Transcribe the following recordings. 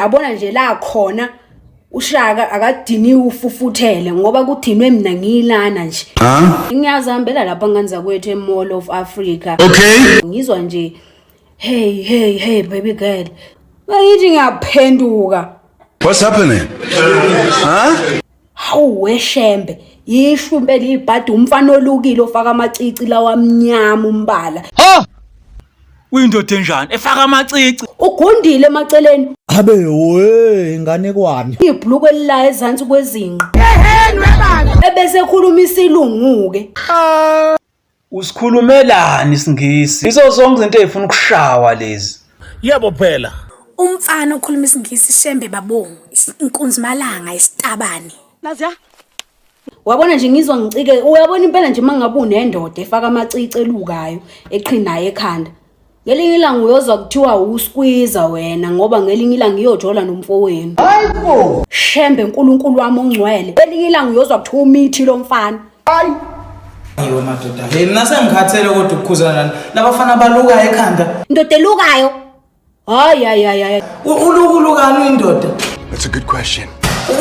abona nje la khona ushaka akadiniwe ufufuthele ngoba kudinwe mina ngiyilana nje ngiyazihambela lapha ngani zakwethu emall of africa okay ngizwa nje hey hey hey baby girl bayithi ngiyaphenduka what's happening huh? Hawu weshembe yisho impela ibhadi umfana olukile ofaka amacici lawa amnyama umbala. Ha! Uyindoda enjani efaka amacici? Ugundile emaceleni Abe we inganekwane. ibhulukwe lilayo ezansi kwezinqa. Ehehe nwe baba. Ebese ekhuluma isilungu-ke. Usikhulumelani isingisi? Izo zonke izinto ezifuna ukushawa lezi. Yebo phela. Umfana okhuluma isingisi shembe babongo, inkunzi malanga isitabane. Nazi ya? Wabona nje ngizwa ngicike uyabona impela nje mangabe unendoda efaka amacici elukayo eqhinayo ekhanda ngelinye ilanga uyozwa kuthiwa uskwiza wena ngoba ngelinye ilanga iyojola nomfowenu hayibo shembe nkulunkulu wami ongcwele elinye ilanga uyozwa kuthiwa umithi lo mfana hayi Yiwe madoda. Hey mina sengikhathele kodwa ukukhuzana nani. Labafana baluka ekhanda. Ndoda elukayo. Hayi hayi hayi hayi. Uluku lukani indoda? That's a good question.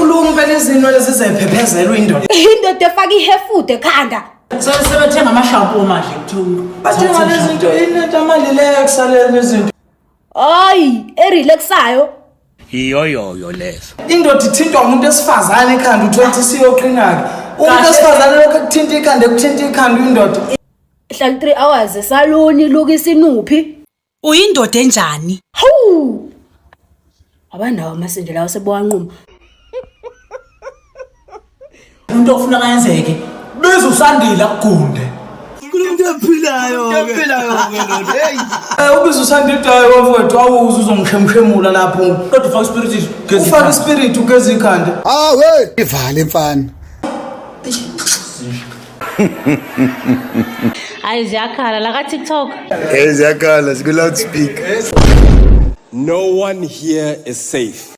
Uluku impela izinto lezi zephephezela indoda. Indoda efaka ihefude ekhanda. sebethenga amashampo manje kuthiwa bathenga lezinto inentamali leyo kusaleni izinto hayi erelaxayo yiyoyoyo leso indoda ithintwa umuntu esifazane ekhanda uthola ukuthi siyoqina-ke umuntu esifazane lokhu ekuthinta ikhanda ekuthinta ikhanda indoda hlala 3 hours esaloni lukisa inuphi Uyindoda enjani? Hawu! Abandawo amasende lawo sebowanquma. Umuntu ofuna kayenzeke. Biza usandile akugunde. Umuntu ophilayo. Umuntu ophilayo ke lona. Hey. Eh ubiza usandile udayo wafowethu awuze uzongishemshemula lapho. Kodwa ufaka ispirit ugeza. Ufaka ispirit ugeza ikhanda. Ah we! Ivale mfana. hayi ziyakhala la ka tiktok hey ziyakhala siku loud speak no one here is safe